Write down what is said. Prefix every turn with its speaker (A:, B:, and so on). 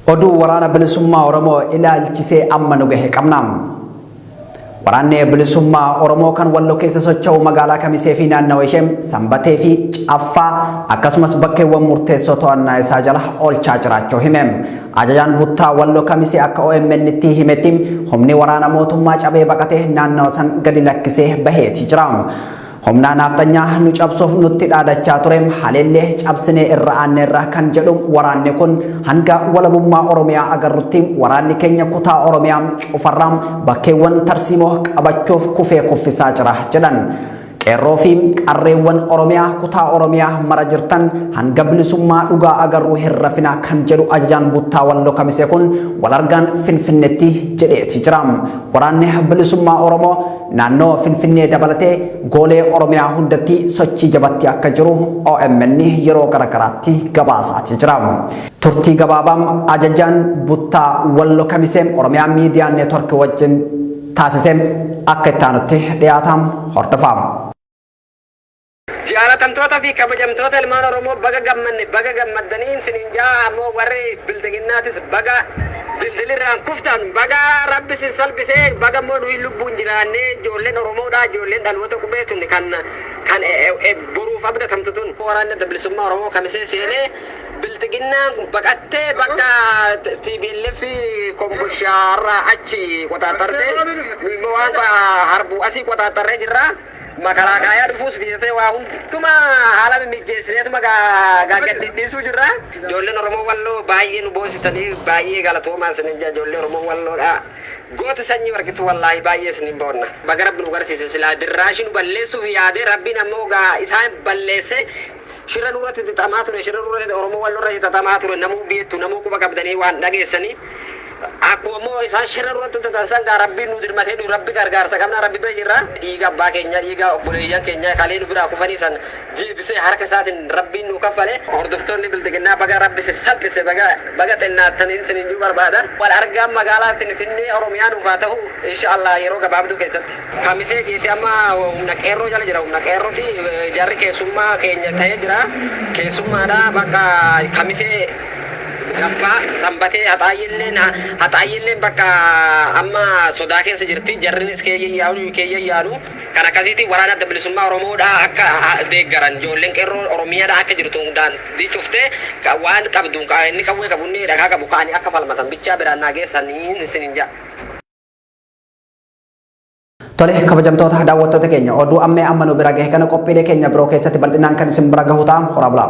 A: Oduu waraana bilisummaa Oromoo ilaalchisee amma nu gahe qabna. Waraanni bilisummaa Oromoo kan walloo keessa socho'u magaalaa Kamisee fi naannawa ishee Sanbatee fi Caffaa akkasumas bakkeewwan murteessoo to'annaa isaa jala oolchaa jiraachuu hime. Ajajaan Buttaa Wallo Kamisee akka OMNtti himetti humni waraana mootummaa cabee baqatee naannawa san gadi lakkisee baheeti jira. Humnaa naafxanyaa nu cabsuuf nutti dhaadachaa ture haleellee cabsinee irra aanneerra kan jedhu waraanni kun hanga walabummaa Oromiyaa agarrutti waraanni keenya kutaa Oromiyaa cufarraa bakkeewwan tarsiimoo qabachuuf kufee kuffisaa jira jedhan. Qeerroo fi qarreewwan Oromiyaa kutaa Oromiyaa mara jirtan hanga bilisummaa dhugaa agarruu hin rafinaa kan jedhu ajajaan buttaa walloo kamisee kun wal argaan finfinnetti jedheeti jira. Waraanni bilisummaa Oromoo naannoo finfinnee dabalatee goolee Oromiyaa hundatti sochii jabatti akka jiru OMN yeroo garagaraatti gabaasaati jira. Turtii gabaabaam ajajaan buttaa walloo kamisee Oromiyaa miidiyaa neetworkii wajjin taasiseen akka itti aanutti dhiyaata hordofaam.
B: Jaalatamtoota fi kabajamtoota ilmaan Oromoo baga gammanne baga gammaddaniin siniin jaa ammoo warri bilxiginnaatis baga dildilirraan kuftan baga rabbi sin salphisee baga immoo nuyi lubbuun jiraannee ijoolleen Oromoodha ijoolleen dhaloota qubee tun kan kan boruuf abdatamtu tun waraanni adda bilisummaa Oromoo kamisee seenee Bilxiginnaan baqattee bakka tplf komboshaa irraa achi qoxaaxarte nu immoo waan harbuu asii qoxaaxarree jirra makalaakaayaa dhufuus dhiisatee waa hunduma haala mimmijeessineetuma gaaggad dhidhiisuu jirra ijoolleen oromoo walloo baay'ee nu boonsitanii baay'ee galatoomaa isinin jaa ijoollee oromoo walloodha goota sanyii warqitu wallaahi baay'ee isinin boonna baga rabbi nu garsiise silaa dirraashii nu balleessuuf yaadee rabbiin ammoo isaan balleesse Shira nurati xixamaa ture shira nurati oromo wallo irrati xaxamaa ture namuu biettu namuu quba qabdanii waan dhageessanii akkuma immoo isaan shira nurati hojjetan san gaa rabbiin nu dirmatee nu rabbi gargaarsa qabnaa rabbi bira jirra dhiiga abbaa keenya dhiiga obboleeyyan keenya kalee nu biraa kufanii san deebisee harka isaatiin rabbiin nu kaffale hordoftoonni bilxiginnaa baga rabbi si salphise baga baga xinnaataniin sinin juu barbaada wal argaan magaalaa finfinnee oromiyaa nuuf haa ta'u insha allah yeroo gabaabduu keessatti. Kamisee jeete amma humna qeerroo jala jira humna qeerroti jarri keessummaa keenya ta'ee jira keessummaadha bakka kamisee gaffaa sanbatee haxaayyilleen haxaayyilleen bakka amma sodaa keessa jirti jarrinis keeyyayyaanu keeyyayyaanu kan akkasiitiin waraana adda bilisummaa oromoodha akka deeggaran ijoolleen qeerroo oromiyaadha akka jirtu daandii cuftee waan qabduun inni qawwee qabu inni dhagaa qabu ka'anii akka falmatan bichaa biraan naa geessanii isinin ja'a.
A: Tole kabajamtoota daawwattoota keenya oduu ammee amma nu bira gahe kana qophiilee keenya biroo keessatti bal'inaan kan isin bira gahu ta'a horaa bulaa.